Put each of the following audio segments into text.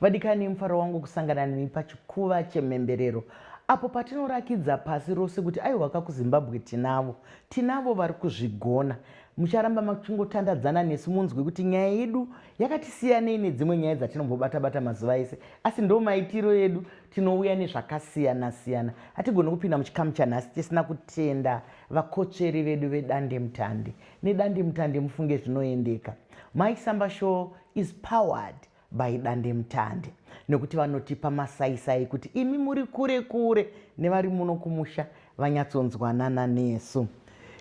vadikani mufaro wangu kusangana nemi pachikuva chemhemberero apo patinorakidza pasi rose kuti aiwa ka kuzimbabwe tinavo tinavo vari kuzvigona mucharamba machingotandadzana nesu munzwe kuti nyaya yedu yakatisiyanei nedzimwe nyaya dzatinombobatabata mazuva ese asi ndo maitiro edu Tinouya nezvakasiyana-siyana. Hatigoni kupinda muchikamu chanhasi tisina kutenda vakotsveri vedu vedandemutande nedandemutande mufunge zvinoendeka. Mai Samba Show is powered by dandemutande nekuti vanotipa masaisai kuti imi muri kure kure nevari muno kumusha vanyatsonzwanana nesu.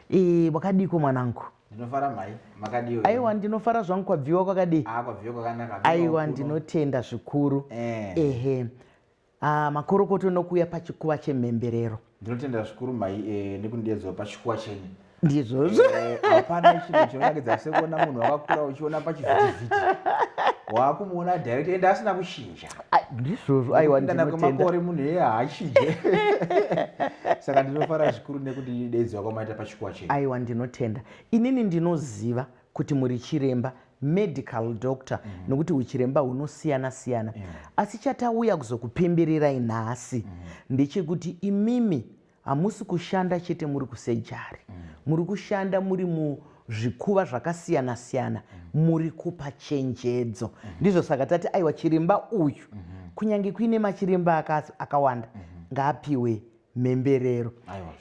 E, wakadiiko mwanangu? ndinofara mhai makadii aiwa ndinofara zvangu kwabviwa kwakadii ah, kwabviwa kwakanaka aiwa ndinotenda zvikuru eh. ehe ah, makorokoto nokuuya pachikuva chemhemberero ndinotenda zvikuru mhai eh, nekundiedzwa pachikuva chenyu ndizvozvo eh, hapana eh, chinhu chinonakidza sekuona munhu wakakura uchiona pachivhitivhiti waakumuona direct ende asina kuchinja ndizvozvo aiwaana kwemakore munhu eye haachije saka ndinofara zvikuru nekuti daidziwa kwamaita pachikuwa chenu aiwa ndinotenda inini ndinoziva kuti muri chiremba medical doctor mm -hmm. nokuti uchiremba hunosiyana siyana yeah. asi chatauya kuzokupemberirai nhasi mm -hmm. ndechekuti imimi Hamusi kushanda chete muri kusejari. Mm. Muri kushanda muri mu zvikuva zvakasiyana siyana muri kupa chenjedzo ndizvo saka tati aiwa chiremba uyu kunyange kuine machiremba akawanda ngaapiwe mhemberero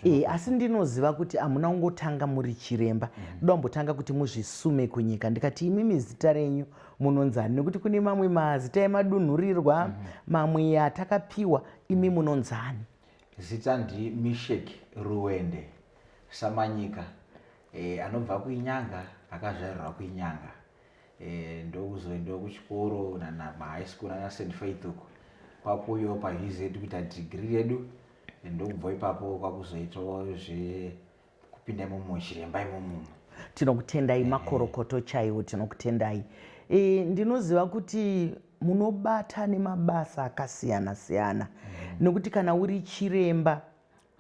e, asi ndinoziva kuti hamuna kungotanga muri chiremba ndoda kumbotanga kuti muzvisume kunyika ndikati imimi zita renyu munonzani nekuti kune mamwe mazita emadunhurirwa mamwe atakapiwa imi munonzani Zita ndi Misheck Ruwende Samanyika e, anobva kuInyanga, akazvarirwa kuInyanga e, ndokuzoendawo kuchikoro nana mahigh school nana St Faith uko kwakuuyawo paUZ kuita degree redu e, ndokubva ipapo kwakuzoitawo zve kupinda imomo chiremba imomo tinokutendai makorokoto chaiwo tinokutendai e, ndinoziva kuti munobata nemabasa akasiyana siyana mm. nekuti kana uri chiremba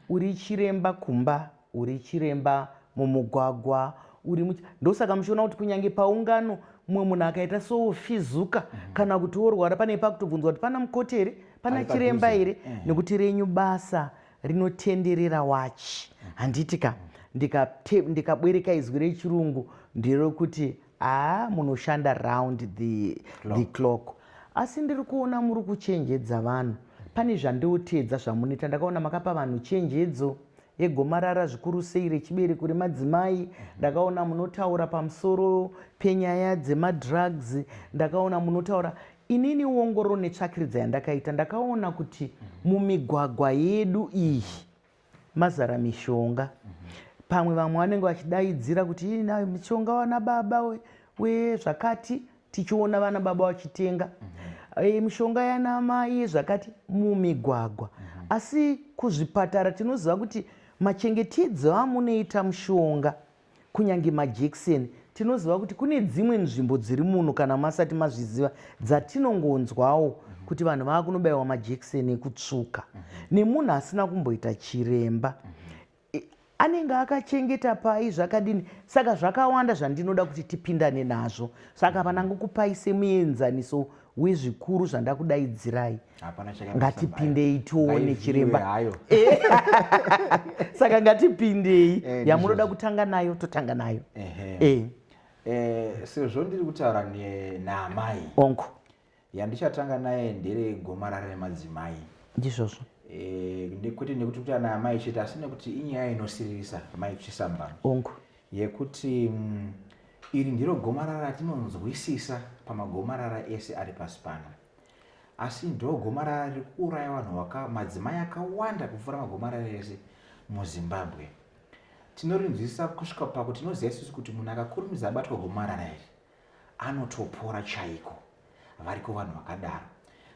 uri chiremba kumba uri chiremba mumugwagwa uri much... ndosaka muchiona kuti kunyange paungano mumwe munhu akaita sofizuka mm. kana kuti worwara pane pakutobvunzwa kuti pana mukoti here pana chiremba here mm. nekuti renyu basa rinotenderera wachi handiti ka ndikabwereka ndika izwi rechirungu nderokuti haa munoshanda round the clock, the clock. asi ndiri kuona muri kuchenjedza vanhu pane zvandiotedza zvamunoita ndakaona makapa vanhu chenjedzo yegomarara zvikuru sei rechibereko remadzimai ndakaona munotaura pamusoro penyaya dzemadrugs ndakaona munotaura Inini ongororo netsvakiridza yandakaita ndakaona kuti mumigwagwa yedu iyi mazara mishonga. Pamwe vamwe vanenge vachidaidzira kuti ina mishonga wana baba we, we zvakati tichiona vana baba vachitenga e, mishonga yana mai zvakati mumigwagwa. Asi kuzvipatara tinoziva kuti machengetedzi amunoita mushonga Kunyange majekiseni, tinoziva kuti kune dzimwe nzvimbo dziri muno kana masati mazviziva dzatinongonzwawo kuti vanhu vava kunobaiwa majekiseni ekutsvuka nemunhu asina kumboita chiremba anenge akachengeta pai zvakadini saka zvakawanda zvandinoda kuti tipindane nazvo saka hapana ngokupai semuenzaniso we zvikuru zvandakudaidzirai ngatipindei tione chiremba eh. saka ngatipindei eh, yamunoda kutanga nayo totanga nayo eh. sezvo ndiri kutaura naamai onko yandichatanga naye ndere gomarara remadzimai ndizvozvo kwete nekuti kuti ana amai chete asi nekuti inyaya inosiririsa mai chisambano onko yekuti iri ndiro gomarara ratinonzwisisa pamagomarara ese ari pasi pano asi ndogomarara riri kuuraya vanhu madzimai akawanda kupfuura magomarara ese muzimbabwe tinorinzwisisa kusvika pakuti tinoziva isusu kuti munhu akakurumidza abatwa gomarara iri anotopora chaiko variko vanhu vakadaro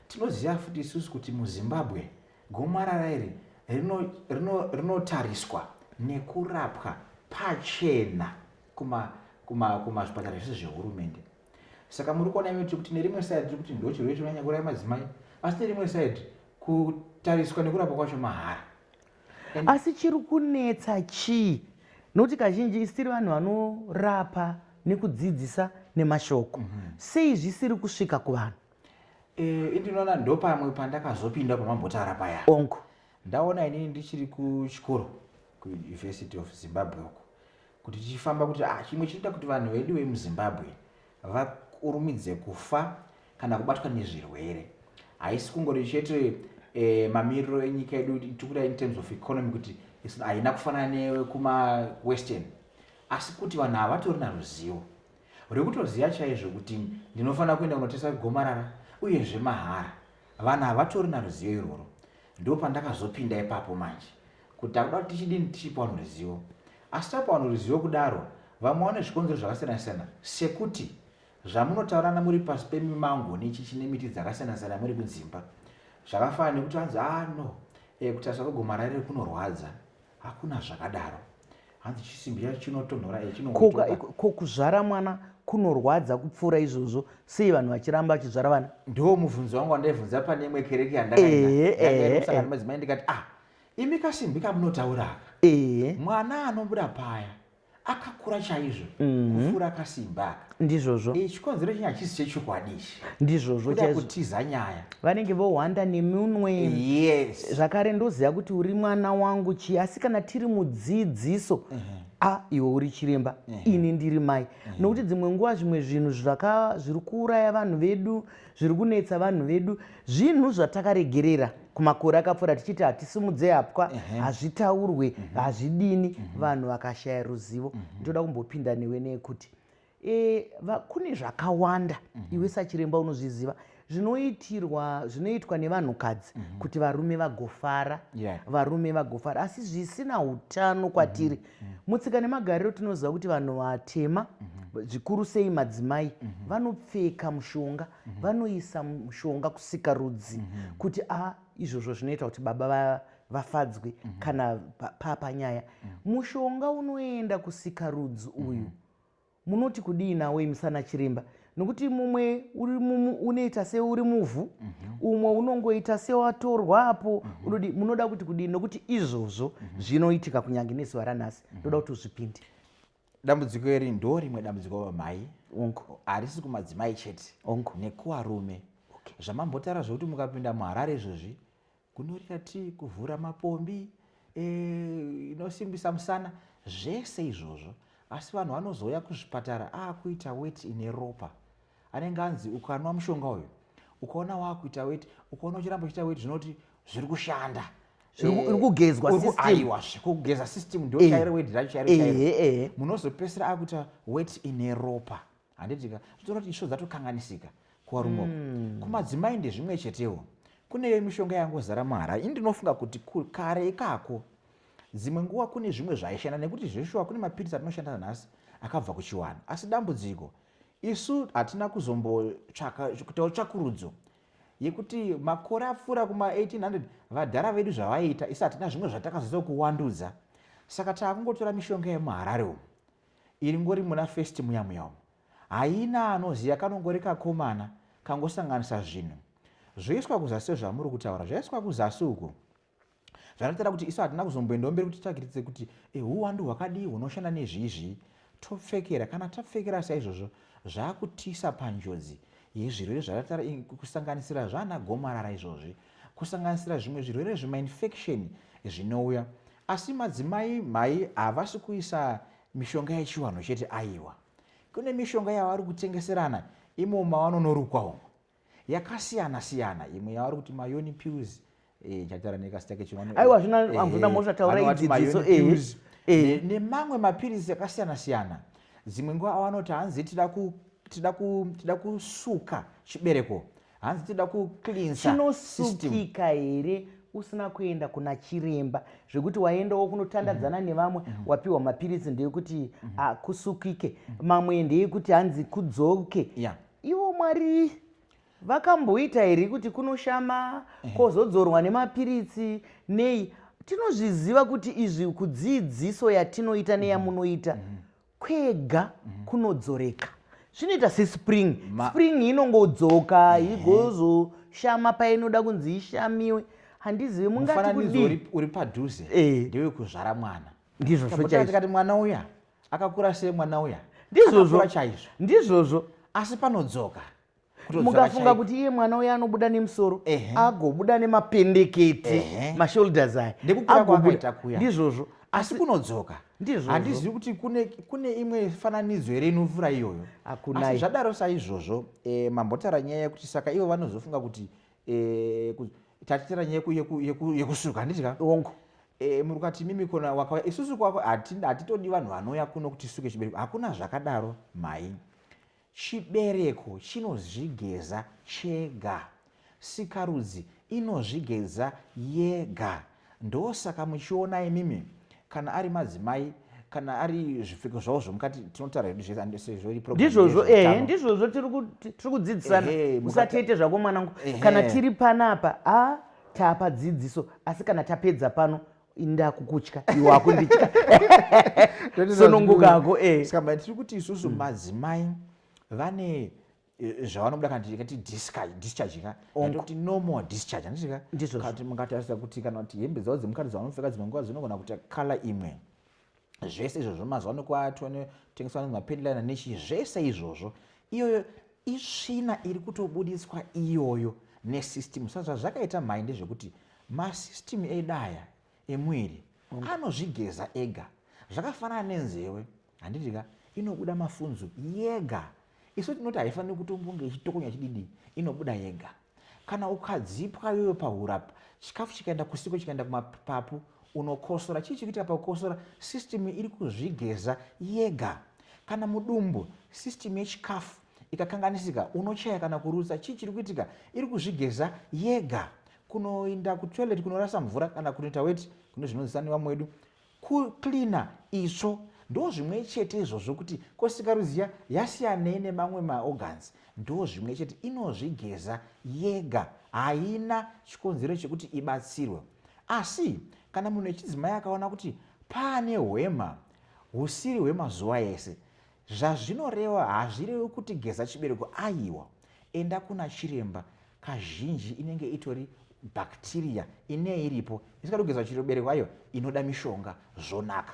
tinoziva futi isusu kuti muzimbabwe Gomarara iri rinotariswa rino, rino nekurapwa pachena kumazvipatara kuma, kuma zvese zvehurumende. Saka muri kuona imi kuti nerimwe side tiri kuti ndochirwere chinonyanya kuuraya madzimai, asi nerimwe side kutariswa nekurapwa kwacho mahara. And asi chiri kunetsa chii? Nokuti kazhinji isi tiri vanhu vanorapa nekudzidzisa nemashoko. Mm -hmm. Sei zvisiri kusvika kuvanhu? Eh, ndinoona ndopamwe pandakazopinda pamambotara paya onko ndaona inini ndichiri kuchikoro kuuniversity of zimbabwe uko kuti tichifamba kuti ah, chimwe chinoita kuti vanhu vedu vemuzimbabwe vakurumidze kufa kana kubatwa nezvirwere haisi kungori chete eh, mamiriro enyika yedu tikuda in terms of economy kuti haina kufanana newekuma western asi kuti vanhu havatori naruzivo Uri kutoziva chaizvo kuti ndinofanira kuenda kunoteswa gomarara uyezve mahara. Vanhu havatorina ruzivo irworwo. Ndipo pandakazopinda ipapo manje kuti takuda kuti tichidini tichipa vanhu ruzivo. Asi tapa vanhu ruzivo kudaro vamwe vane zvikonzero zvakasiyana-siyana sekuti zvamunotaurirana muri pasi pemimango nechichi nemiti dzakasiyana-siyana muri kudzimba. Zvakafanana nekuti vanzi ah no, eh, kutariswa kwegomarara iri kunorwadza. Hakuna zvakadaro. hanzi chisimbi chacho chinotonhora ko kuzvara mwana kunorwadza kupfuura izvozvo sei vanhu vachiramba vachizvara vana ndiwo mubvunzo wangu wandaibvunza pane imwe kereke yandakaaaaa madzimai ndikati ah imi kasimbi kamunotaura aka mwana anobuda paya akakura chaizvo mm. kupfuura kasimbi aka ndizvozvo Eh, chikonzero chenyu hachisi chechokwadi ichi ndizvozvo kuda chaizvo kutiza nyaya vanenge vohwanda nemunwe yes zvakare ndoziva kuti uri mwana wangu chii asi kana tiri mudzidziso a iwe uri chiremba ini ndiri mai nokuti dzimwe nguva zvimwe zvinhu zvaka- zviri kuuraya vanhu vedu zviri kunetsa vanhu vedu zvinhu zvatakaregerera kumakore akapfuura tichiti hatisimudze hapwa hazvitaurwe hazvidini vanhu vakashaya ruzivo ndoda kumbopinda newe nekuti e, va, kune zvakawanda mm -hmm. iwe sachiremba unozviziva zvinoitirwa zvinoitwa nevanhukadzi mm -hmm. kuti varume vagofara yeah. varume vagofara asi zvisina utano kwatiri mm -hmm. mutsika nemagariro tinoziva kuti vanhu vatema mm -hmm. zvikuru sei madzimai mm -hmm. vanopfeka mushonga mm -hmm. vanoisa mushonga kusikarudzi mm -hmm. kuti a ah, izvozvo zvinoita kuti baba va vafadzwe mm -hmm. kana papa nyaya mm -hmm. mushonga unoenda kusikarudzi mhm. uyu mm -hmm. munoti kudii nawo imisana chiremba nokuti mumwe unoita seuri muvhu mm -hmm. umwe unongoita sewatorwa apo mm -hmm. unodi munoda kuti kudii nokuti izvozvo mm -hmm. zvinoitika kunyange nezuva ranhasi mhm. ndoda mm -hmm. kuti uzvipinde dambudziko iri ndo rimwe dambudziko vamai harisi kumadzimai chete nekuvarume okay. zvamambotaura zvekuti mukapinda muharare izvozvi Kunurira tii, kuvhura mapombi, e, inosimbisa musana, zvese izvozvo. Asi vanhu vanozouya kuzvipatara aakuita weti ine ropa. Anenge anzi ukanwa mushonga uyu, ukaona waakuita weti, ukaona uchiramba uchiita weti zvinoti zviri kushanda. Eh, uri kugezwa aiwa kugeza system ndochairo eh. wedi racho chairo chairo eh, munozopesera akuita wet ine ropa handiti ka zvitora kuti isvo dzatokanganisika kuvarume uku hmm. kumadzimai ndezvimwe chetewo kuneyo mishonga yangozara muharare ini ndinofunga kuti kare ikako dzimwe nguva kune zvimwe zvaishanda nekuti zveshuwa kune mapiritsi atinoshanda nanhasi akabva kuchiwana asi dambudziko isu hatina kuzombotsvaka kutawo tsvakurudzo yekuti makore apfuura kuma1800 vadhara vedu zvavaiita isu hatina zvimwe zvatakazodza kuwandudza saka taakungotora mishonga yemuharare umu Iri ngori muna first muya muya umu haina anoziva kanongori kakomana kangosanganisa zvinhu zvoiswa kuzasi sezvamuri kutaura zvaiswa kuzasi uko zvanotaura kuti isu hatina kuzomboendawo mberi kuti tsvakiritse kuti eh, huwandu hwakadii hunoshanda nezviizvii topfekera kana tapfekera saizvozvo zvaakutiisa panjodzi yezvirwere zvakatara kusanganisira zvaana gomarara izvozvi kusanganisira zvimwe zvirwere zvemainfekisheni zvinouya asi madzimai mhai havasi kuisa mishonga yechiwanhu chete aiwa kune mishonga yavari kutengeserana imo mavanonorukwa umo yakasiyana siyana imwe yavari kuti mayoni pills eh, chatara nekasita kechiwanhu aiwa zvina eh, amvuna mosha taura idzidziso eh, nemamwe mapirizi akasiyana siyana dzimwe nguva avanoti hanzi tida kusuka chibereko hanzi tida kucleansachinosukika here usina kuenda kuna chiremba zvekuti waendawo kunotandadzana mm -hmm. nevamwe mm -hmm. wapiwa mapiritsi ndeyekuti mm -hmm. Ah, akusukike mm -hmm. mamwe ndeyekuti hanzi kudzoke yeah. ivo mwari vakamboita here kuti kunoshama eh. kozodzorwa nemapiritsi nei tinozviziva kuti izvi kudzidziso yatinoita neyamunoita mm -hmm kwega kunodzoreka zvinoita sespring Ma... spring inongodzoka mm -hmm. igozoshama painoda kunzi ishamiwe handizivi mungati kudii uri padhuze eh. ndewe kuzvara mwana ndizvo zvochaizvotikati mwana uya akakura sei mwana uya ndizvozvo chaizvo ndizvozvo asi panodzoka mukafunga kuti iye mwana uye anobuda nemusoro agobuda nemapendeketi mashoulders aya ndizvozvo asi kunodzoka ndizvo handizivi kuti kune, kune imwe fananidzo here inovhura iyoyo asi zvadaro saizvozvo e, mambotara nyaya yekuti saka ivo vanozofunga kuti e, eh, ku, tatitira nyaya yekusuka handiti ka ongo e, muri kati mimi kona wakauya isusu kwako hatitodi vanhu vanouya kuno kuti suke chibereko hakuna zvakadaro mhai Chibereko chinozvigeza chega. Sikarudzi inozvigeza yega. Ndosaka muchiona imimi kana ari madzimai kana ari zvipfeko zvavo zvomukati tinotaura hedu zvese and sezvo iri program ndizvozvo yezveutano. ehe ndizvozvo tiri ku- ti- tiri kudzidzisana Ehe, mukati- usatete zvako mwanangu Ehe. kana tiri panapa a tapa dzidziso asi kana tapedza pano ndakukutya iwe wakunditya sonongokako eh. saka tiri kuti isusu hmm. madzimai vane eh, zvavanobuda kana tikati discharge discharge ka kuti no more discharge handiti ka ndizvo kati mungatarisa kuti kana kuti hembe dzavo dzemukati dzavanopfeka dzimwe nguva dzinogona kuita kala imwe zvese izvo zvemazuva ano kwatotengeswa anonzi mapendlina nechii zvese izvozvo iyoyo isvina iri kutobuditswa iyoyo nesystem sa zvazvakaita mhai ndezvekuti masystem edaya emwiri mm. anozvigeza ega zvakafanana nenzewe handiti ka inobuda mafunzo yega isu tinoti haifaniri kutombonge ichitokonya chididi inobuda yega Kana ukadzipwa iwewe pahuro apa, chikafu chikaenda kusipo chikaenda kumapapu unokosora. Chii chikuitika pakukosora? System iri kuzvigeza yega. Kana mudumbu system yechikafu ikakanganisika unochaya kana kurutsa. Chii chiri kuitika? Iri kuzvigeza yega. Kunoinda kutoilet kunorasa mvura kana kunoita weti kune zvinonzisa nevamwe wedu Ku cleaner itsvo ndozvimwechete izvozvo kuti ko sikarudzi iya yasiyanei nemamwe ma organs ndozvimwechete inozvigeza yega haina chikonzero chekuti ibatsirwe asi kana munhu echidzimai akaona kuti paane hwema husiri hwemazuva ese Zvazvinoreva hazvirevi kuti geza chibereko aiwa enda kuna chiremba kazhinji inenge itori bacteria ine iripo isikadi kugeza chibereko ayo inoda mishonga zvonaka.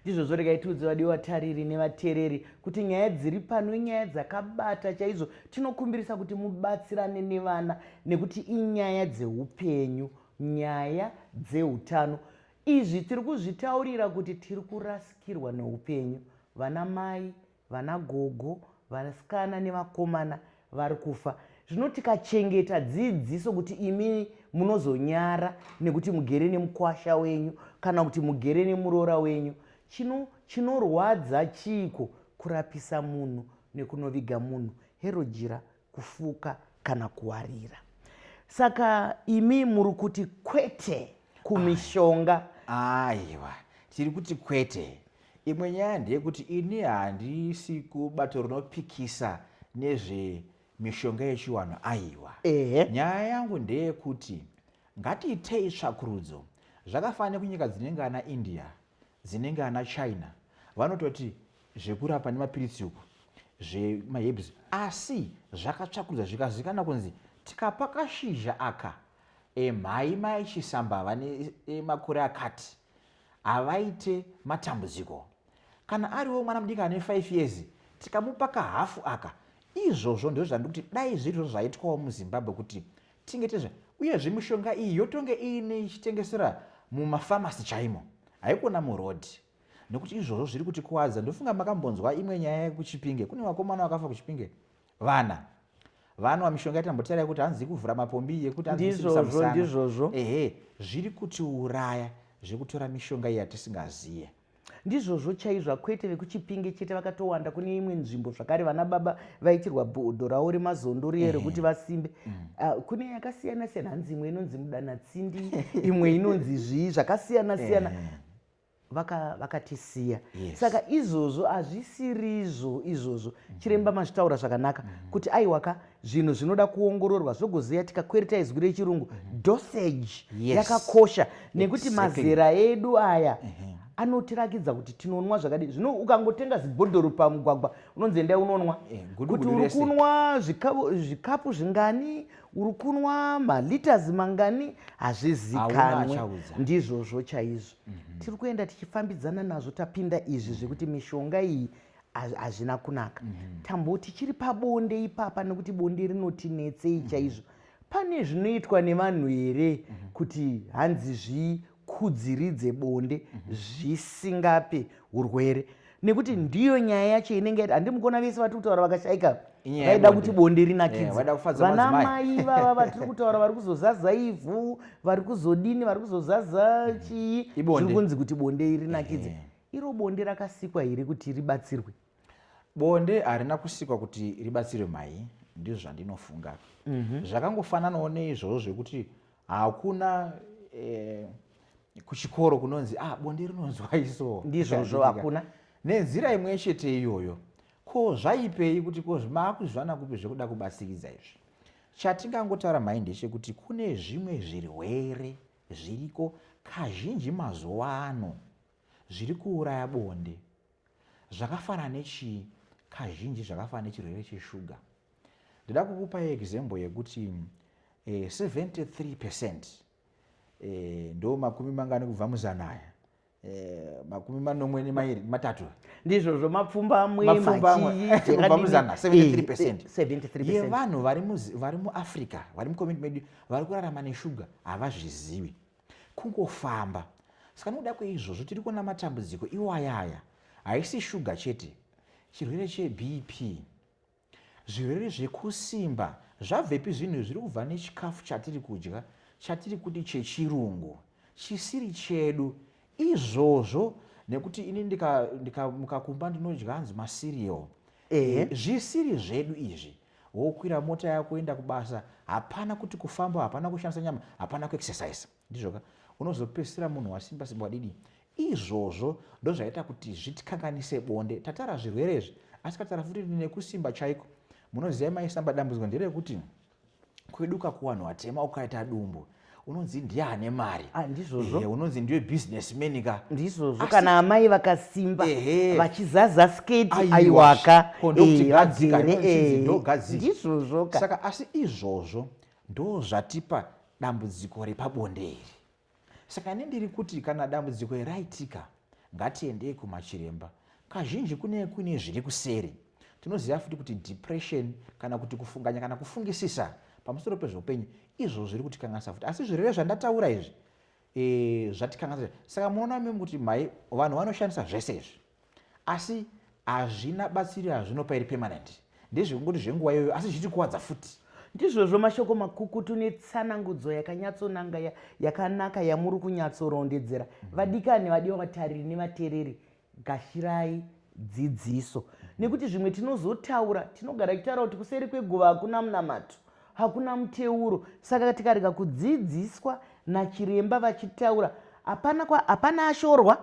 Ndizvozvo regai tiudze vadiwa vatariri nevatereri kuti nyaya dziri pano inyaya dzakabata chaizvo tinokumbirisa kuti mubatsirane nevana nekuti inyaya dzehupenyu nyaya dzeutano Izvi tiri kuzvitaurira kuti tiri kurasikirwa neupenyu. Vana mai, vana gogo, vasikana nevakomana vari kufa. Zvino tikachengeta dzidziso kuti imi munozonyara nekuti mugere nemukwasha wenyu kana kuti mugere nemuroora wenyu, chino chinorwadza chiiko kurapisa munhu nekunoviga munhu? Herojira kufuka kana kuwarira saka imi muri kuti kwete kumishonga aiwa tiri kuti kwete imwe nyaya ndeyekuti ini handisi kubato rinopikisa nezvemishonga yechiwanhu aiwa nyaya yangu ndeyekuti ngatiitei tsvakurudzo zvakafanira kunyika dzinenge ana india dzinenge ana China vanototi zvekurapa nemapiritsi uku zvemaherbs asi zvakatsvakurudza zvikazikana kunzi tikapa kashizha aka emhai mai chisamba vane makore akati havaite matambudziko kana ariwo mwana mudiki ane 5 years tikamupa kahafu aka izvozvo ndizvo zvandiri kuti dai zviri zvo zvaitwawo muzimbabwe kuti Chengetedza uyezve mishonga iyi yotonge iine ichitengesera mumafamasi chaimo, haikona muroad nekuti izvozvo zviri kutikuwadza. Ndofunga makambonzwa imwe nyaya yekuChipinge, kune vakomana vakafa kuChipinge vana vanwa mishonga yatambotara yekuti hanzi ikuvhura mapombi yekuti ndizvozvo ndizvozvo ehe zviri kutiuraya zvekutora mishonga iyi yatisingaziye. Ndizvozvo chaizva kwete vekuchipinge chete vakatowanda kune imwe nzvimbo zvakare vana baba vaitirwa bhodho ravo remazondo riye rekuti vasimbe mm. ah, kune yakasiyana siyana hanzi imwe inonzi mudanatsindi imwe inonzi zvii zvakasiyana siyana vakatisiya vaka yes. saka izvozvo hazvisirizvo izvozvo mm. chiremba mazvitaura zvakanaka mm. kuti aiwaka zvinhu zvinoda kuongororwa zvogozeya tikakwereta izwi rechirungu mhm. dosage yakakosha nekuti mazera edu aya mhm. anotirakidza kuti tinonwa zvakadii zvino ukangotenga zibhodhoro pamugwagwa unonzi endai unonwa eh, kuti uri kunwa zvikapu zvingani uri kunwa malitas mangani hazvizikanwe ndizvozvo chaizvo mhm. tiri kuenda tichifambidzana nazvo tapinda izvi zvekuti mishonga iyi hazvina kunaka mm -hmm. tamboti chiri pabonde ipapa nekuti bonde rinotinetsei mhm. chaizvo mm -hmm. pane zvinoitwa nevanhu here mm -hmm. kuti hanzi zvikudziridze bonde mm -hmm. zvisingape urwere nekuti mhm. ndiyo nyaya yacho inenge yati handimukona vese vatiri kutaura vakashaika vaida kuti bonde rinakidzevana eh, mai vava vatiri kutaura vari kuzozaza ivhu vari kuzodini vari kuzozaza mhm. chii zviri kunzi kuti bonde rinakidze eh. Iro bonde rakasikwa here kuti ribatsirwe? Bonde harina kusikwa kuti ribatsirwe mai, ndizvo zvandinofunga. Mm -hmm. Zvakangofananawo neizvozvo zvekuti hakuna eh, kuchikoro kunonzi ah, bonde rinonzwai so ndizvozvo hakuna nenzira imwe chete iyoyo ko zvaipei kuti ko maakuzvana kupi zvekuda kubasikidza izvi chatingangotaura mhai ndechekuti kune zvimwe zvirwere Zviriko kazhinji mazuva ano zviri kuuraya bonde zvakafanana nechii? Kazhinji zvakafanana nechirwere cheshuga. Ndida kukupai example yekuti eh, 73 percent eh, ndo makumi mangani kubva muzanaya Eh, makumi manomwe nemairi matatu ndizvozvo mapfumba amwe machiyibva muzana 73 percent yevanhu vari muafrica vari mucommunity medu vari kurarama neshuga havazvizivi kungofamba saka nokuda kweizvozvo tiri kuona matambudziko iwayaya haisi shuga chete chirwere chebp Zvirwere zvekusimba zvabvepi zvinhu izvi zviri kubva nechikafu chatiri kudya chatiri kuti chechirungu chisiri chedu izvozvo nekuti ini ndikamuka kumba ndinodya hanzi macereal ehe mhm. zvisiri zvedu izvi wokwira mota yako enda kubasa hapana kuti kufamba hapana kushandisa nyama hapana kuexercise Ndizvo ka. Unozopedzisira munhu wasimba simba wadidi. Izvozvo ndozvaita kuti zvitikanganise bonde. Tatara zvirwere izvi asi katara futi nekusimba chaiko. Munoziva mai samba dambudziko nderekuti kweduka kuwanhu watema ukaita dumbu unonzi ndiye ane mari ah, ndizvozvo eh, unonzi ndiwe businessman ka ndizvozvo kana amai vakasimba vachizaza sketi aiwaka eh, ndizvozvo ka saka asi izvozvo Ndozvatipa dambudziko repabonde iri. Saka ini ndiri kuti kana dambudziko iri raitika, ngatiendei kumachiremba. Kazhinji kunenge kuine zviri kuseri. Tinoziva futi kuti depression kana kuti kufunganya kana kufungisisa pamusoro pezveupenyu izvo zviri kutikanganisa futi. Asi zvirwere zvandataura izvi e, zvatikanganisa. Saka munoona mimi kuti mhai vanhu vanoshandisa zvese izvi. Asi hazvina batsiro yazvinopa iri permanent. Ndezvekungoti zvenguva iyoyo asi zvichitikuwadza futi. Ndizvozvo mashoko makukutu netsanangudzo yakanyatsonanga yakanaka yamuri kunyatsorondedzera. Mm-hmm. Vadikani vadiwa vatariri nevatereri, gashirai dzidziso. Nekuti zvimwe tinozotaura, tinogara tichitaura kuti kuseri kweguva hakuna munamato hakuna muteuro saka tikarega kudzidziswa nachiremba vachitaura hapana ashorwa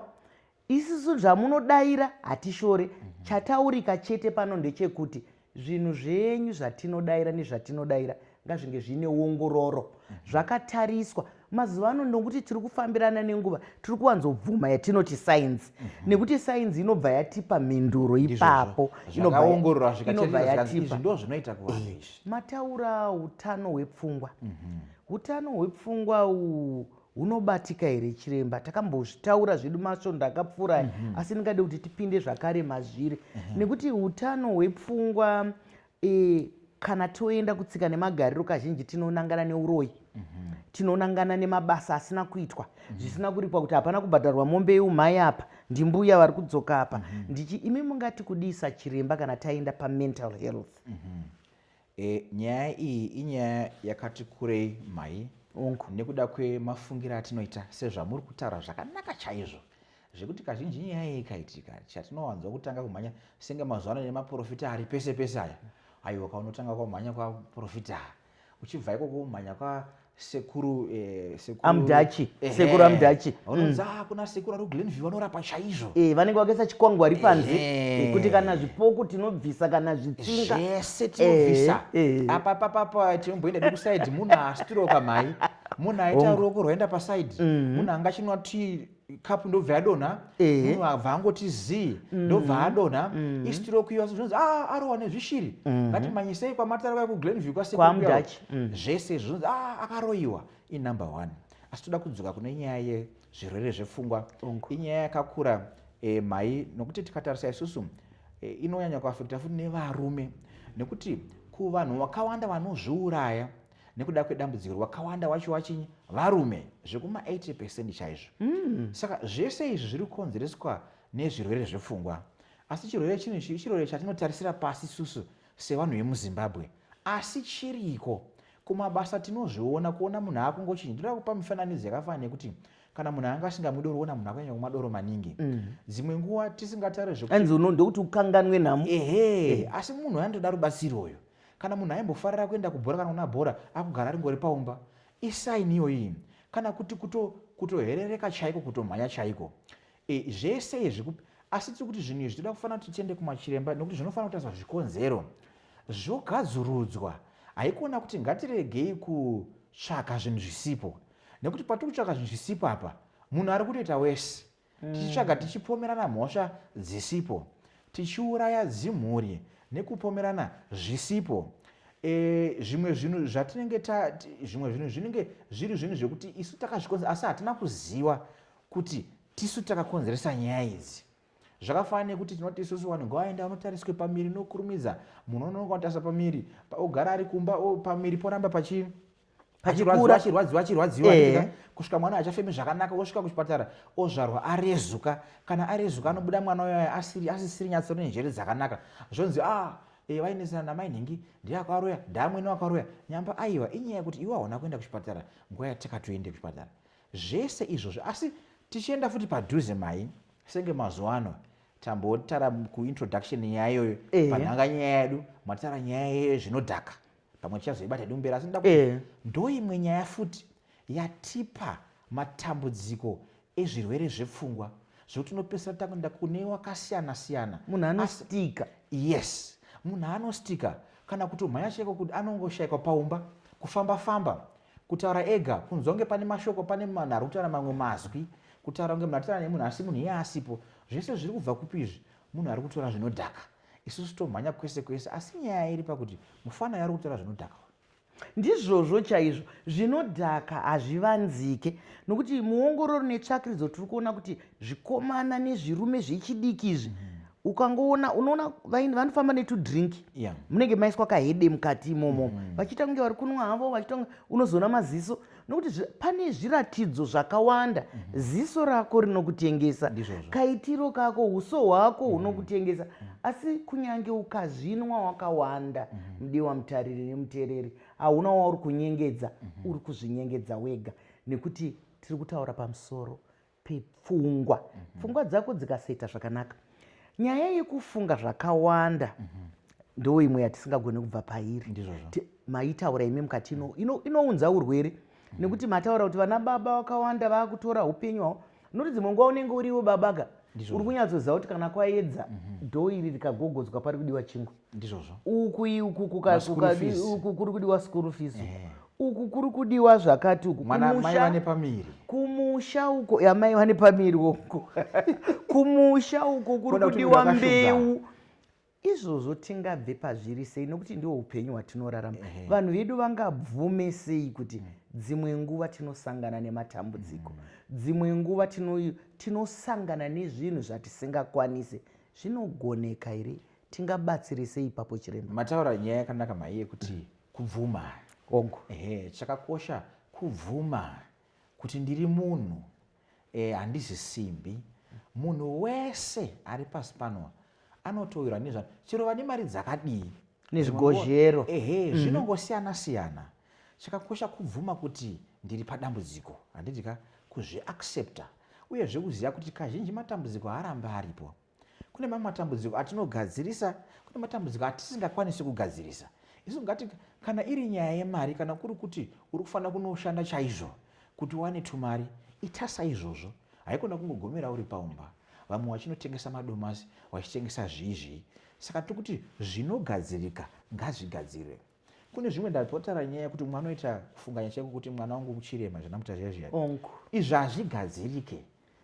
Isisu zvamunodaira hatishore, mhm. chataurika chete pano ndechekuti zvinhu zvenyu zvatinodaira nezvatinodaira ngazvinge zviine ongororo mhm. zvakatariswa mazuva ano ndokuti tiri kufambirana nenguva tiri kuwanzobvuma yatinoti sainzi mhm. nekuti sainzi inobva yatipa mhinduro ipapo mataura utano hwepfungwa utano hwepfungwa uhu Unobatika here chiremba? Takambozvitaura zvedu masvondo akapfuura mm -hmm. asi ndingade kuti tipinde zvakare mazviri mm -hmm. nekuti utano hwepfungwa e, kana toenda kutsika nemagariro kazhinji tinonangana neuroyi mm -hmm. tinonangana nemabasa asina kuitwa mm -hmm. zvisina kuripwa kuti hapana kubhadharwa mombe yeumhai apa ndimbuya vari kudzoka apa mm -hmm. ndichi imi mungati kudii sachiremba kana taenda pamental health mm -hmm. E, nyaya iyi inyaya yakati kurei mhai Uncle, nekuda kwemafungire atinoita sezvamuri kutaura zvakanaka chaizvo zvekuti kazhinji nyaya iyi ikaitika chatinowanzwa kutanga kumhanya senge mazuva ano nemaprofita ari pese pese aya aiwa kaunotanga kwamhanya kwaprofita uchibva ikoko umhanya sekuru eh, sekuru amdachi eh, sekuru amdachi unonzi mm. kuna sekuru ari kuglenview vanorapa chaizvo eh, vanenge vakaisa chikwangwari panze eh. eh, kuti kana zvipoko tinobvisa kana zvitsinga zvese eh, tinobvisa eh, eh. apa papapa tinomboenda nekusaidi munhu astroka mhai munhu aita ruoko rwaenda pasaidi mm. munhu angachinwa tii cup ndobva yadonha munhu abva angoti zii mm. ndobva adonha mm. istroke iyo zvinonzi a ah, arohwa nezvishiri mm-hmm. ngatimanyisei kwamatara kwai kuglenview kwasekwa mm. zvese zvinonzi a ah, akaroyiwa inumber one asi toda kudzoka kune nyaya yezvirwere zvepfungwa inyaya yakakura eh, mhai nokuti tikatarisa isusu eh, inonyanya kuafekta futi nevarume nekuti kuvanhu vakawanda vanozviuraya nekuda kwedambudziko rwakawanda wacho wachinyi varume zvekuma 80 percent chaizvo mm. saka zvese izvi zviri kukonzereswa nezvirwere zvepfungwa asi chirwere chino ichi chirwere chatinotarisira pasi susu sevanhu vemuzimbabwe asi chiriko kumabasa tinozviona kuona munhu akungochinja ndoda kupa mifananidzo yakafana nekuti kana munhu anga asingamwi doro ona munhu akunyanya kumwa doro maningi mm. dzimwe nguva tisingatare zvekuti unoda kuti ukanganwe nhamo ehe eh. asi munhu andoda rubatsiro uyo Kana munhu aimbofarira kuenda kubhora kana kuna bhora akugara ringori paumba isaini iyoyi kana kuti kuto kutoherereka chaiko kutomhanya chaiko e, zvese izvi asi tiri kuti zvinhu izvi toda kufanira kuti tiende kumachiremba nekuti zvinofanira kutariswa zvikonzero zvogadzirudzwa haikona kuti ngatiregei kutsvaka zvinhu zvisipo nekuti patiri kutsvaka zvinhu zvisipo apa munhu ari kutoita wese tichitsvaga tichipomerana mhosva dzisipo tichiuraya dzimhuri nekupomerana zvisipo e, zvimwe zvinhu zvatinenge zvimwe zvinhu zvinenge zviri zvinhu zvekuti isu takazvikonzera asi hatina kuziva kuti tisu takakonzeresa nyaya idzi zvakafanana nekuti tinoti isusu vanhu ngavaenda vanotariswe pamiri nokurumidza munhu unononga anotarisa pamiri ogara ari kumba pamiri poramba pachii achikura achirwadziwa achirwadziwa eh. kusvika mwana achafemi zvakanaka osvika kuchipatara ozvarwa arezuka kana arezuka anobuda mwana uyoyo asiri asisiri nyatso nenjere dzakanaka zvonzi ah eh, vainesana namai nhingi ndiye akaroya ndaamwene wakaroya nyamba aiwa inyaya yekuti iwe hauna kuenda kuchipatara nguva yatakatoende kuchipatara zvese izvozvo asi tichienda futi padhuze mai senge mazuva ano tambotara kuintroduction nyaya iyoyo eh. panhanga nyaya yedu matara nyaya yeyo zvinodhaka pamwe tichazoibata hedu mberi asi ndakuti eh. ndoimwe nyaya futi yatipa matambudziko ezvirwere zvepfungwa zvekuti unopesera takuenda kune wakasiyana siyana munhu anostika yes munhu anostika kana kuti umhanya chaiko kuti anongoshaikwa paumba kufamba famba kutaura ega kunzwa kunge pane mashoko pane munhu ari kutaura mamwe mazwi kutaura kunge munhu atitaura nemunhu asi munhu iye asipo zvese zviri kubva kupi izvi munhu ari kutora zvinodhaka Isusu tomhanya kwese kwese asi nyaya iri pakuti mufana yari kutaura zvinodhaka uyu. Ndizvozvo chaizvo, zvinodhaka hazvivanzike nokuti muongororo netsvakiridzo tiri kuona kuti zvikomana nezvirume zvechidiki izvi mm. ukangoona unoona vanofamba netudrink yeah. munenge maiswa kahede mukati imomo mm. vachiita kunge vari kunwa havo vachiita unozona maziso nokuti pane zviratidzo zvakawanda mm -hmm. ziso rako rinokutengesa kaitiro kako uso hwako mhm. hunokutengesa mm -hmm. asi kunyange ukazvinwa wakawanda mm -hmm. mudiwa mutariri nemuteereri hauna wauri kunyengedza mm -hmm. uri kuzvinyengedza wega nekuti tiri kutaura pamusoro pepfungwa mm -hmm. pfungwa dzako dzikasaita zvakanaka nyaya yekufunga zvakawanda mm -hmm ndo imwe yatisingagone kubva pairi maitaura imi mukati ino mm. inounza urwere mm. nekuti mataura kuti vana baba vakawanda vakutora upenyu hwavo noti dzimwe nguva unenge uriwo babaka uri kunyatsoziva kuti kana kwaedza mm-hmm. dho iri rikagogodzwa pari kudiwa chingwa ndizvozvo uku uku uku kuri kudiwa school fees eh. uku kuri kudiwa zvakati uku kumusha uko yamai vane pamiri uko kumusha uko kuri kudiwa mbeu izvozvo tingabve pazviri sei nokuti ndiwo upenyu hwatinorarama vanhu vedu vangabvume sei kuti mm. dzimwe nguva tinosangana nematambudziko mm. dzimwe nguva tinosangana nezvinhu zvatisingakwanise zvinogoneka here Tingabatsire sei ipapo chiremba? Mataura nyaya yakanaka mhai yekuti mm. kubvuma. Ogo. Ehe, chakakosha kubvuma kuti ndiri munhu eh, handizi simbi. Munhu wese ari pasi pano anotoirwa nezva chero vane mari dzakadii nezvigozhero ehe mhm. zvinongosiyana siyana chakakosha kubvuma kuti ndiri padambudziko handidika kuzviaccepta uyezve kuziva kuti kazhinji matambudziko haarambe aripo Kune mamwe matambudziko atinogadzirisa, kune matambudziko atisingakwanisi kugadzirisa. Isu ngati kana iri nyaya yemari kana kuri kuti uri kufanira kunoshanda chaizvo kuti uwane tumari, ita saizvozvo. Haikona kungogomera uri paumba, vamwe vachinotengesa madomasi, vachitengesa zvii zvii. Saka tiri kuti zvinogadzirika ngazvigadzirwe. kune zvimwe ndatotaura nyaya yekuti mwana oita kufunganya chaiko kuti mwana wangu muchirema zvanamuta zviya zviya izvi hazvigadzirike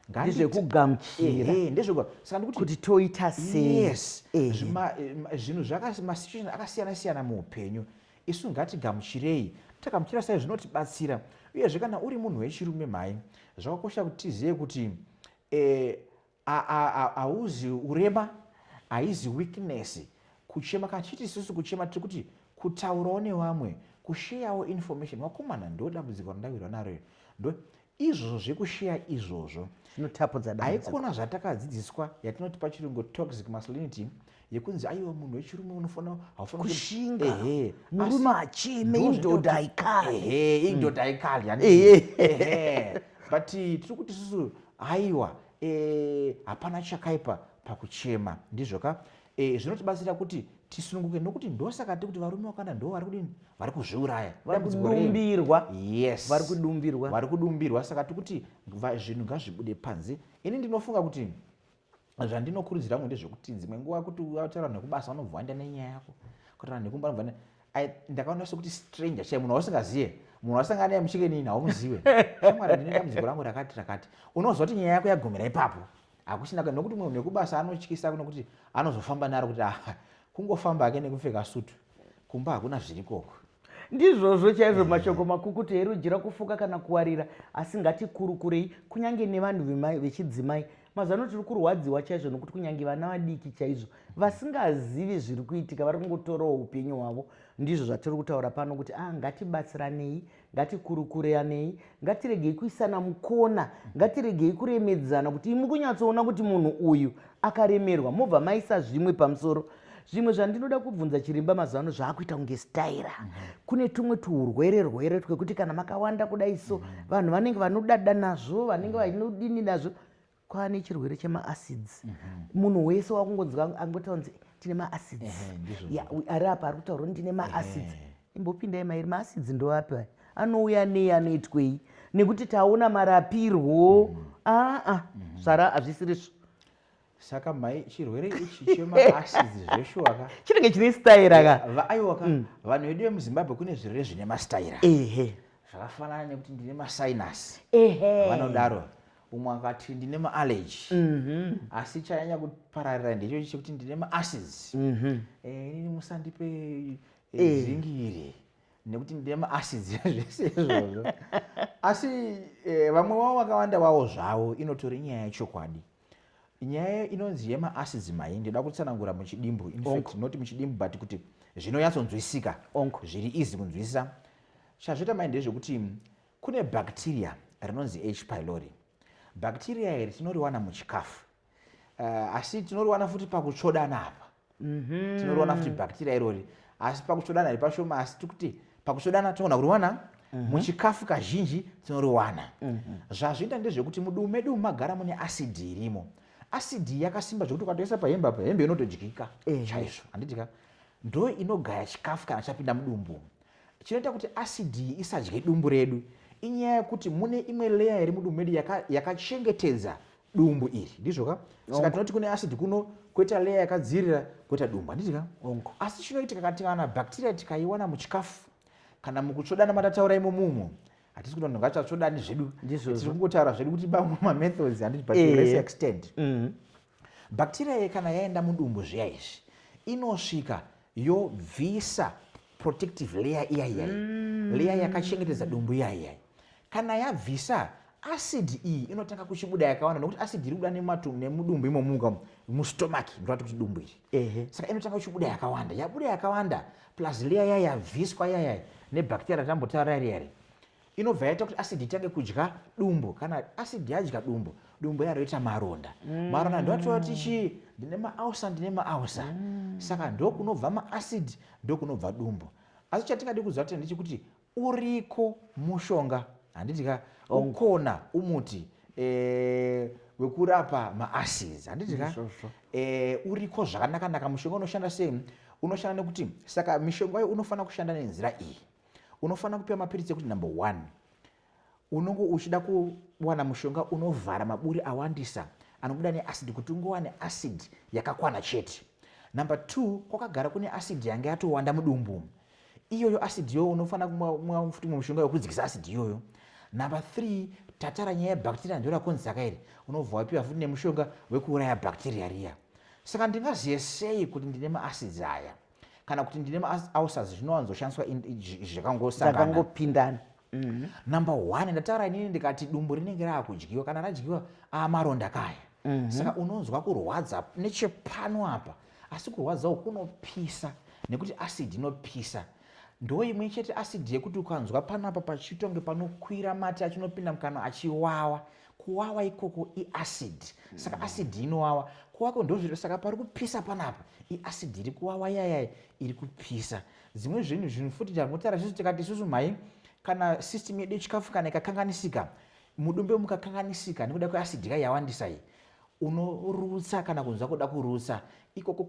ndezvekugamuchirakuti toita sezvinhu zvamasituation akasiyana siyana muupenyu isu ngatigamuchirei takamuchira sai zvinotibatsira uyezve kana uri munhu wechirume mhai zvakakosha kuti tizive kuti eh, Hauzi urema, haizi weakness. Kuchema kachiti isusu kuchema tiri kuti kutaurawo nevamwe, kusheyawo information. Vakomana ndo dambudziko randawirwa naro iri. Ndo izvozvo zvekusheya izvozvo. Zvinotapudza dambudziko. Haikona zvatakadzidziswa yatinoti pachirungu toxic masculinity yekunzi aiwa munhu wechirume unofanira haufanira kushinga ehe murume achime indoda aikali ehe indoda aikali yani ehe but tiri kuti susu aiwa eh hapana chakaipa pakuchema ndizvo ka eh zvinotibatsira kuti tisununguke nokuti ndosaka tiri kuti varume vakanda ndo vari kudini vari kuzviuraya varikudumbirwa yes vari kudumbirwa vari kudumbirwa saka tiri kuti zvinhu ngazvibude panze ini ndinofunga kuti zvandinokurudzira ngo ndezvekuti dzimwe nguva kuti utaura vanhu vekubasa vanobva vaenda nenyaya yako kuti vanhu vekumba vanobva ndakaona sekuti stranger chai munhu wausingazive munhu wasangana naye muchikenini haumuzive shamwari ndine dambudziko rangu rakati rakati unoziva kuti nyaya yako yagumira ipapo hakuchina ka nokuti munhu nekubasa anotyisa kunokuti anozofamba naro kuti aha kungofamba ake nekupfeka sutu kumba hakuna zvirikoko ndizvozvo chaizvo mm. mashoko makukutu herujira kufuka kana kuwarira asi ngatikurukurei kunyange nevanhu vechidzimai mazano tiri kurwadziwa chaizvo nokuti kunyange vana vadiki chaizvo vasingazivi zviri kuitika vari kungotorawo upenyu hwavo ndizvo zvatiri kutaura pano kuti a ah, ngatibatsiranei ngatikurukuranei ngatiregei kuisana mukona ngatiregei kuremedzana kuti imi kunyatsoona kuti munhu uyu akaremerwa mobva maisa zvimwe pamusoro zvimwe zvandinoda kubvunza chirimba mazuva ano zvaakuita kunge staira mhm. kune tumwe tuhurwere rwere twekuti kana makawanda kudai so mhm. vanhu vanenge vanodada nazvo vanenge vanodini nazvo kwaane chirwere chemaacids munhu wese wakungonzwa angotaura kunzi tine maacids Ehe, ndizvo. Ya, u- ari apa ari kutaura kuti ndine maacids Ehe. imbopindai mairi maacids ndoapi aya anouya nei anoitwei nekuti taona marapirwo aa zvara hazvisiri svo saka mai chirwere ichi chemaacids zveshuwa ka chinenge chine staira ka Va- aiwa ka vanhu vedu vemuzimbabwe kune zvirwere zvine mastaira ehe zvakafanana nekuti ndine masinus ehe vanodaro umwe akati ndine maallergy mhm. asi chanyanya kupararira ndechochi chekuti ndine maacids mhm. eh, inini musandipe eh, eh. zingi iri nekuti ndine maacids zvese izvozvo asi vamwe vavo vakawanda vavo zvavo inotori nyaya yechokwadi nyaya inonzi yemaacids mai ndoda kutsanangura muchidimbu infact not muchidimbu but kuti zvinonyatsonzwisika zviri easy kunzwisisa chazvita mai ndezvekuti Kune bacteria rinonzi H. pylori. Bacteria iri tinoriwana muchikafu. Uh, asi tinoriwana futi pakutsvodana apa. Mm -hmm. Tinoriwana futi bacteria irori. Asi pakutsvodana iri pashoma asi tikuti pakutsvodana tinogona kuriwana mm -hmm. muchikafu kazhinji tinoriwana. Mm -hmm. Zvazviita ndezvekuti mudumu medu magara mune acid irimo. Acid yakasimba zvekuti ukatoisa pahembe apa hembe inotodyika. Eh. Chaizvo handidika. Ndo inogaya chikafu kana chapinda mudumbu. Chinoita kuti acid iyi isadye dumbu redu inyaya yekuti mune imwe layer iri mudumbu medu yakachengetedza yaka dumbu iri ndizvo ka saka tinoti kune acid kuno koita leya yakadzirira koita dumbu handiti ka asi chinoitika kati kana bacteria tikaiwana muchikafu kana mukutsvodana matataura imo mumo hatisi kuti vanhu ngativatsvodani zvedu tiri kungotaura zvedu kuti bamwe mamethods handiti but to less eh. extent mm-hmm. Bacteria iyi kana yaenda mudumbu zviya izvi inosvika yobvisa protective layer iya iyai mm. layer yakachengetedza dumbu iya iyai kana yabvisa acid iyi inotanga kuchibuda yakawanda nokuti acid iri kuda nemudumbu imomuka mustomach ndoati kuti dumbu iri saka inotanga kuchibuda yakawanda yabuda yakawanda plus layer iya yabviswa iya yai nebacteria ratambotaura iri iri inobva yaita kuti acid itange kudya dumbu kana acid yadya dumbu dumbu iya roita maronda mm. maronda ndoatova kuti chii ndine maausa ndine maausa mm. saka ndokunobva maacid ndokunobva dumbu asi chatingadi kuziva tena ndechekuti uriko mushonga handiti ka oh. ukona umuti eh, wekurapa maacids handiti ka eh, uriko zvakanakanaka mushonga unoshanda sei unoshanda nekuti saka mishonga yo unofanira kushanda nenzira iyi unofanira kupiwa mapiritsi ekuti number one unonge uchida kuwana mushonga unovhara maburi awandisa anobuda neacid kuti ungowane acid yakakwana chete number two kwakagara kune acid yange yatowanda mudumbu iyoyo acid iyoyo unofanira kumwa futi mwe mushonga wekudzikisa acid iyoyo number three tatara nyaya yebhakteria ndo rakonzaka iri unobva wapiwa futi nemushonga wekuuraya bhakteria riya saka ndingazive sei kuti ndine maacids aya kana kuti ndine maulcers zvinowanzoshandiswa zvakangosangangopindana mm-hmm. number one ndataura inini ndikati dumbu rinenge raakudyiwa kana radyiwa amaronda kaya mm-hmm. saka unonzwa kurwadza nechepano apa asi kurwadza uku kunopisa nekuti acid inopisa ndo imwe chete acid yekuti ukanzwa pano apa pachitonge panokwira mati achinopinda mukanwa achiwawa kuwawa ikoko iacid saka mm. acid inowawa kuwako ndozviro saka pari kupisa panapa iacid iri kuwawa yayai iri kupisa dzimwe zvinhu zvinhu futi tangotaura tisu tikati isusu mhai kana system yedu yechikafu kana ikakanganisika mudumbe mukakanganisika nekuda kweacid ka yawandisa iyi unorutsa kana kunzwa kuda kurutsa ikoko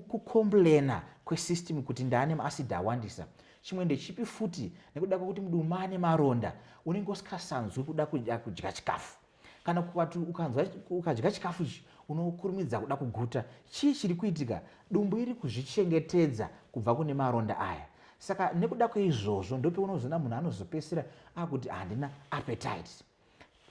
kukomblena kwesystem kuti ndaane maasidi awandisa chimwe ndechipi futi nekuda kwekuti muduma ane maronda unenge usikasanzwi kuda kuda kudya chikafu kana kukati ukanzwa ukadya chikafu ichi unokurumidza kuda kuguta chii chiri kuitika dumbu iri kuzvichengetedza kubva kune maronda aya saka nekuda kweizvozvo ndopeunozoona munhu anozopesera akuti handina appetite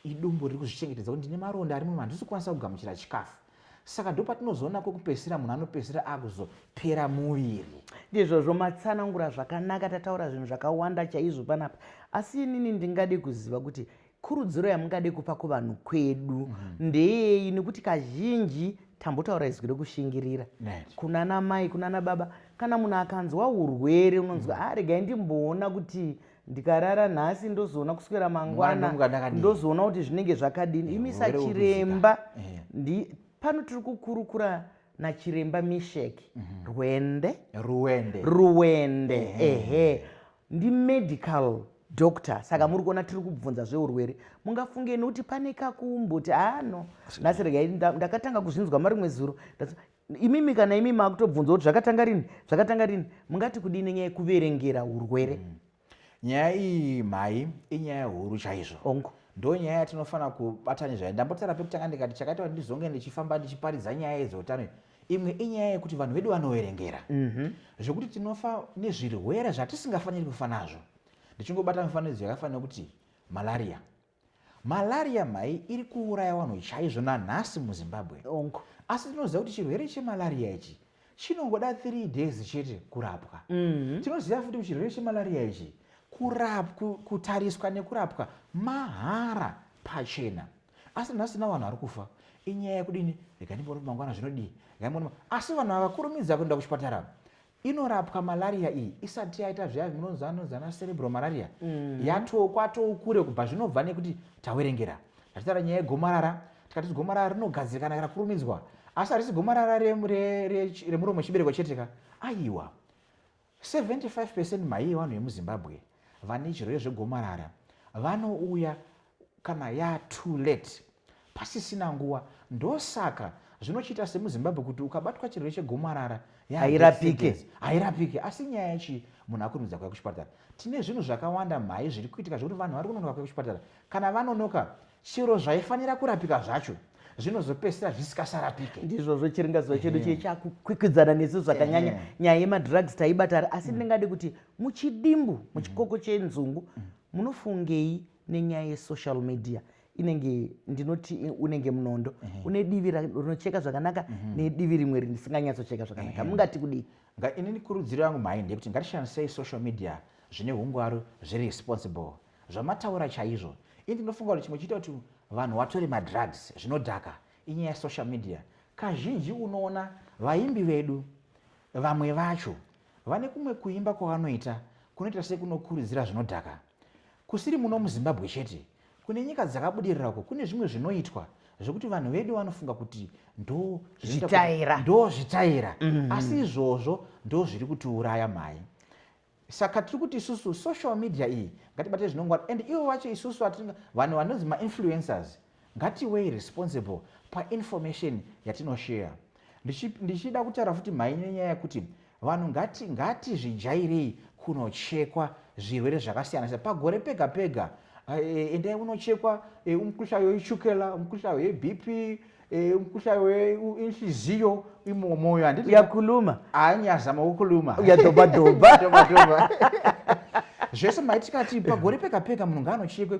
Idumbu riri kuzvichengetedza kuti ndine maronda ari muromo handisi kukwanisa kugamuchira chikafu. Saka ndopatinozoona kwekupedzisira munhu anopedzisira akuzopera muviri. Ndizvozvo matsanangura zvakanaka tataura zvinhu zvakawanda chaizvo panapa asi inini ndingade kuziva kuti kurudziro yamungade kupa kuvanhu kwedu mm -hmm. ndeyei nekuti kazhinji tambotaura izwi rekushingirira kunana mai kunana baba kana munhu akanzwa urwere unonzwa mm -hmm. aregai ah, ndimboona kuti ndikarara nhasi ndozoona kuswera mangwana ndozoona kuti zvinenge zvakadini imi sachiremba eh. pano tiri kukurukura nachiremba mishek mhm. rwende ruwende ruwende ehe ndimedical doctor saka mhm. muri kuona tiri kubvunza zveurwere mungafunge nekuti pane kakumboti ano nhasi regai ndakatanga kuzvinzwa marimwe zuro imimi kana imi makutobvunza kuti zvakatanga rini zvakatanga rini mungati kudii nenyaya yekuverengera urwere mm. nyaya iyi mhai inyaya huru chaizvo ongo ndo nyaya yatinofanira kubatani zvayo ndambotara pekutanga ndikati chakaita kuti ndizonge ndichifamba ndichiparidza nyaya yedzeutano imwe inyaya yekuti vanhu vedu vanoverengera mhm. zvekuti tinofa nezvirwere zvatisingafaniri kufa nazvo ndichingobata mifananidzo yakafanira kuti malaria Malaria mhai iri kuuraya vanhu chaizvo nanhasi muZimbabwe. Onko. Asi tinoziva kuti chirwere chemalaria ichi chinongoda 3 days chete kurapwa. Mm. Tinoziva futi kuti chirwere chemalaria ichi kurapwa kutariswa nekurapwa mahara pachena. Asi nhasi na vanhu vari kufa. Inyaya yekudini? Rega ndimbono mangwana zvinodii? Rega asi vanhu havakurumidza kuenda kuchipatara. Inorapwa malaria iyi isati yaita zviya zvinonzi anonzi ana cerebral malaria mm. yatoo kwatoo kure kubva zvinobva nekuti tawerengera tachitaura nyaya yegomarara tikati gomarara rinogadzirikana kana kurumidzwa asi harisi gomarara remuromo chibereko chete ka aiwa 75 percent maiye vanhu vemuzimbabwe vane chirwere zvegomarara vanouya kana yaa too late pasisina nguva ndosaka zvinochiita semuzimbabwe kuti ukabatwa chirwere chegomarara hairapike hairapike asi nyaya yachii munhu akurumbidza kuya kuchipatara tine zvinhu zvakawanda mhai zviri kuitika zvekuti vanhu vari kunonoka kuya kuchipatara kana vanonoka chiro zvaifanira kurapika zvacho zvinozopedzisira zvisikasarapike ndizvozvo chiringazuva chedu chie chakukwikwidzana nesu zvakanyanya nyaya yemadrugs taibatari asi mm. ndingade kuti muchidimbu muchikoko chenzungu mm. munofungei nenyaya yesocial media inenge ndinoti unenge munondo mm -hmm. une divi rinocheka zvakanaka mm -hmm. nedivi rimwe risinganyatsocheka zvakanaka mm -hmm. mungati kudii inini kurudziro yangu mhai ndeyekuti ngatishandisei social media zvine ungwaru zviri responsible zvamataura chaizvo ini ndinofunga kuti chimwe chiita kuti vanhu vatore madrugs zvinodhaka inyaya yesocial media kazhinji unoona vaimbi vedu vamwe vacho vane kumwe kuimba kwavanoita kunoita sekunokurudzira zvinodhaka Kusiri muno muZimbabwe chete, kune nyika dzakabudirira uko kune zvimwe zvinoitwa zvekuti vanhu vedu vanofunga kuti ndozvitaira ndo zvitaira mm -hmm. asi izvozvo ndo zviri kutiuraya mhai saka tiri kuti isusu social media iyi ngatibate zvinongwara and ivo vacho isusu vanhu vanonzi mainfluencers Ngatiwei responsible painformation yatinoshare. Ndichida kutaura futi mhai nenyaya yekuti vanhu ngati ngatizvijairei kunochekwa zvirwere zvakasiyana siyana pagore pega pega eh, endai unochekwa eh, umukhuhlane wechukela umukhuhlane webp eh, umukhuhlane weinhliziyo imo moyo handiti uyakhuluma hayi ndiyazama kukhuluma uyadhobhadhobha zvese maitikati pagore pega pega munhu ngaanochekwe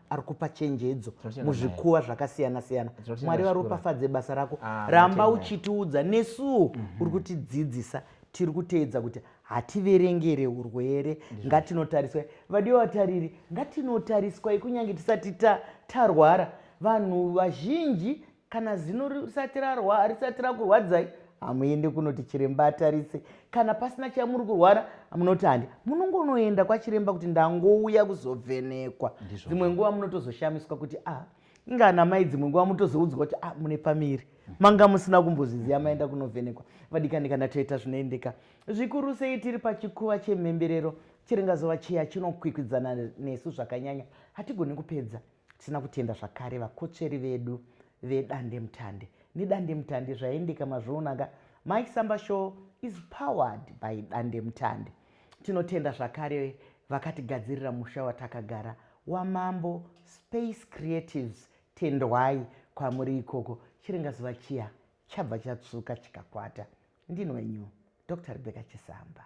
ari kupa chenjedzo muzvikuva zvakasiyana siyana mwari varopafadze basa rako ah, ramba uchitiudza nesuwo mm -hmm. uri kutidzidzisa tiri kuteedza kuti hativerengere urwere ngatinotariswai vadiwa vatariri ngatinotariswai kunyange tisati tarwara vanhu vazhinji kana zino risati rarwa harisati rakurwadzai hamuende kunoti chiremba atarise kana pasina chamuri kurwara munoti handi munongonoenda kwachiremba kuti ndangouya kuzovhenekwa dzimwe nguva munotozoshamiswa kuti a ah, ingana mai dzimwe nguva mutozoudzwa kuti a ah, mune pamiri manga musina kumbozviziva maenda kunovhenekwa vadikani kana toita zvinoendeka zvikuru sei tiri pachikuva chemhemberero chiringazova chiya chinokwikwidzana nesu zvakanyanya hatigoni kupedza Tisina kutenda zvakare vakotsveri vedu vedandemutande nedandemutande zvaendeka mazvionaka Mike Samba Show is powered by dandemutande. Tinotenda zvakare vakatigadzirira musha watakagara wamambo Space Creatives tendwai kwamuri ikoko chiringa zuva chiya chabva chatsvuka chikakwata ndini wenyu Dr Rebecca Chisamba.